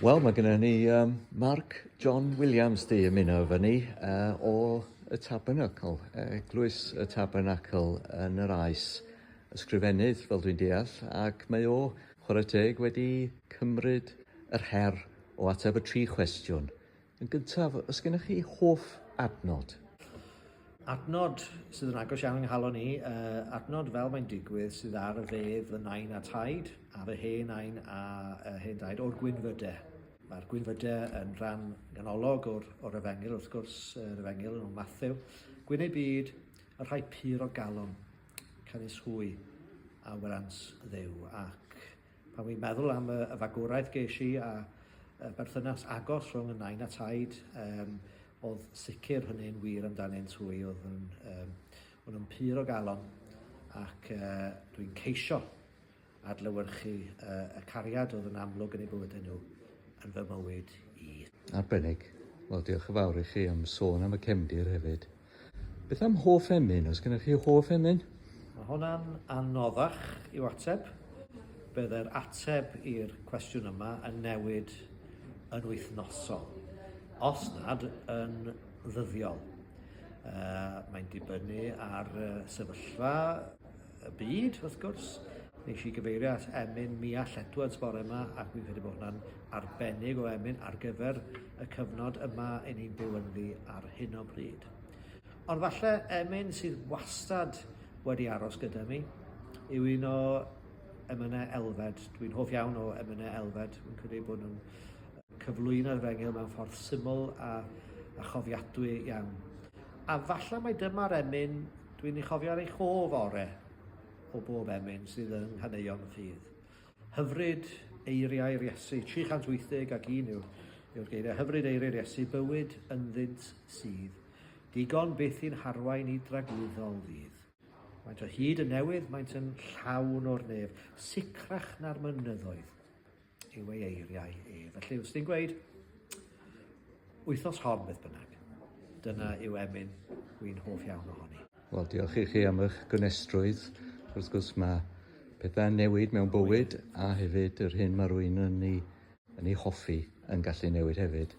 Wel, mae gennym ni um, Mark John Williams di ymuno efo ni uh, o y Tabernacle, Eglwys y Tabernacle yn yr Aes, ysgrifennydd fel dwi'n deall, ac mae o, chwarae teg, wedi cymryd yr her o ateb y tri chwestiwn Yn gyntaf, os gennych chi hoff adnod? Adnod sydd yn agos iawn yng nghalon i, uh, adnod fel mae'n digwydd sydd ar y fedd fy nain a taid, ar y hen nain a uh, hen daid o'r gwynfydau. Mae'r gwynfydau yn rhan ganolog o'r, o'r efengil, wrth gwrs, yr efengil yn Matthew. Gwyn ei byd, y rhai pur o galon, canys hwy a wyrans ddew ac Pan wi'n meddwl am y, y fagwraeth geis i a y berthynas agos rhwng y nain a taid, um, oedd sicr hynny'n wir amdanynt hwy, oedd yn, um, oedd yn pyr o galon ac uh, dwi'n ceisio adlywyrchu uh, y cariad oedd yn amlwg yn ei bywydau nhw yn fy mywyd i. Arbennig. Wel, diolch yn fawr i chi am sôn am y cefndir hefyd. Beth am hoff emyn? Os gennych chi hoff emyn? Mae hwnna'n anoddach i'w ateb. Byddai'r ateb i'r cwestiwn yma yn newid yn wythnosol, os nad yn ddyddiol. Uh, mae'n dibynnu ar uh, sefyllfa y byd, wrth gwrs. Nes i gyfeirio at emyn Miall Edwards bore yma, ac fi'n credu bod hwnna'n arbennig o emyn ar gyfer y cyfnod yma yn ni'n byw ynddi ar hyn o bryd. Ond falle emyn sydd wastad wedi aros gyda mi yw un o emynau elfed. Dwi'n hoff iawn o emynau elfed. Fi'n credu bod nhw'n cyflwyno'r efengyl mewn ffordd syml a, a chofiadwy iawn. A falle mae dyma'r emyn Dwi'n ei chofio ar ei cho fore o bob emyn sydd yng nghaneuon y ffydd. Hyfryd eiriau'r Iesu, 380 ac un yw'r yw'r geiriau, hyfryd eiriau'r Iesu, bywyd ynddynt sydd, digon byth i'n harwain i dragwyddol ddydd. Maent o hyd yn newydd, maent yn llawn o'r nef, sicrach na'r mynyddoedd. yw ei eiriau e. Felly, os ti'n gweud, wythnos hon beth bynnag, dyna yw emyn wy'n hoff iawn ohoni. Wel, diolch i chi am eich gynestrwydd. Wrth gwrs mae pethau'n newid mewn bywyd a hefyd yr hyn mae rwy'n yn ei, yn ei hoffi yn gallu newid hefyd.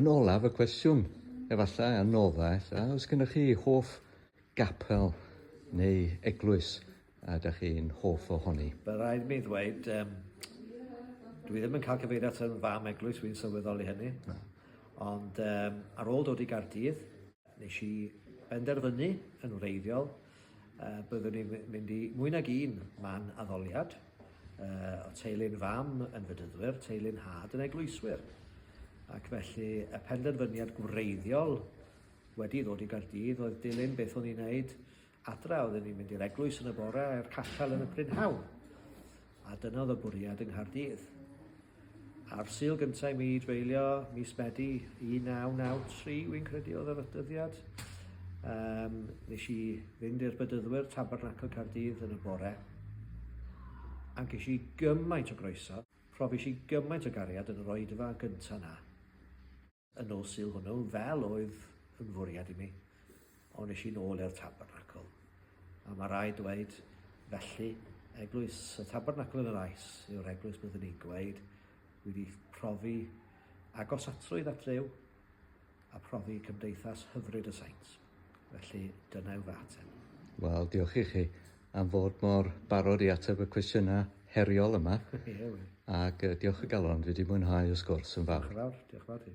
Yn olaf y cwestiwn, efallai, a nodda, ella, os gennych chi hoff Gapel neu eglwys ydych chi'n hoff ohoni? Mae'n rhaid i mi ddweud yym dwi ddim yn cael cyfeirio ato yn fam eglwys, wi'n sylweddoli hynny. Na. Ond yym ar ôl dod i Gaerdydd nesh i benderfynu yn wreiddiol yy byddwn i'n my- mynd i mwy nag un man addoliad yy o' teulu'n fam yn Fedyddwyr, teulu'n nhad yn eglwyswyr ac felly y penderfyniad gwreiddiol Wedi dod i Gaerdydd oedd dilyn beth o'n i'n neud adra, oedden ni'n mynd i'r eglwys yn y bore a'r cachel yn y prynhawn. A dyna oedd y bwriad yng Nghaerdydd. A'r syl gyntaf i mi dreulio mis Medi 1993, wy'n credu oedd yr ydyddiad, um, nes i fynd i'r bydyddwyr Tabernacle Cardydd yn y bore, a ges i gymaint o groeso, profis i gymaint o gariad yn yr oedfa gyntaf na. y nos Sul hwnnw, fel oedd yn fwriad i mi, ond nes i'n ôl i'r tabernacl. A mae rai dweud, felly, eglwys, y tabernacl yn yr aes yw'r eglwys byddwn ni'n gweud, wedi profi atrwydd at Dduw a profi cymdeithas hyfryd y saint. Felly, dyna yw fy ateb. Wel, diolch i chi am fod mor barod i ateb y cwestiynau heriol yma. Ie, wel. Ac uh, diolch y galon, fi wedi mwynhau y sgwrs yn fawr. Diolch yn fawr, diolch yn fawr ti.